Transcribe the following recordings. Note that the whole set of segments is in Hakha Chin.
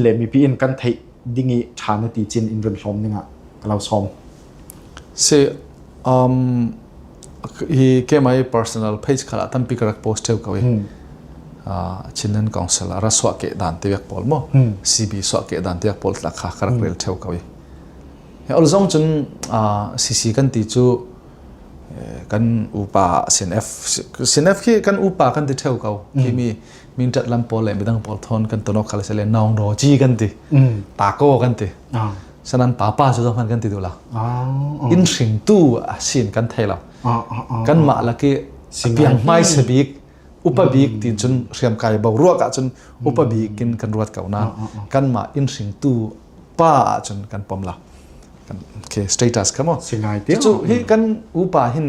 le mipi in kan theih ding i ṭha na ti cin in vun hlawm dingah ka lo sawm. Si, um, hi KMI personal page khala tampi ka rak post theo ko i. Chinan council a raswa ke dan te yak pol mo. CB swa ke dan te yak pol tla kha ka rak rel theo ko i. He ol zong cun CC kan ti cu kan upa sinf sinf khi kan upa kan ti theo ko. Kimi Mintat lam pawl le midang pawl thon kan tono khale se le nong ro chi kan ti. Pa ko kan ti. Sanan pa pa su man kan ti du la. In hring tu a sin kan thei lo. Kan ma la ki piang mai se bik upabik ti cun hriam kai bau ruak ah cun upabik in kan ruat kau na kan ma in hring tu pa cun kan pom la kan ke status kamo singai ti cu hi kan upa hin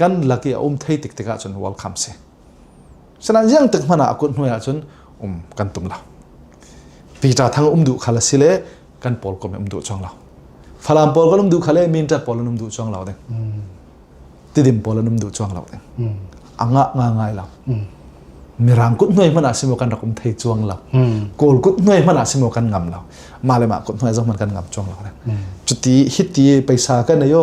kan lak i a um thei tik tikah cun welcome si sina ziang tik hmana a kut hnuai ah cun um kan tum lo Peter thang um duh khal si le kan paul kom um duh chuang lo falam paul kan um duh khale minta paul an um duh chuang lo ding tidim paul an um duh chuang lo ding anga nga ngai lo mirang kut hnoi hmana simo kan rak um thei chuang lo kol kut hnoi hmana simo kan ngam lo male ma kut hnoi zong man kan ngam chuang lo ding cuti hiti paisa kan ayo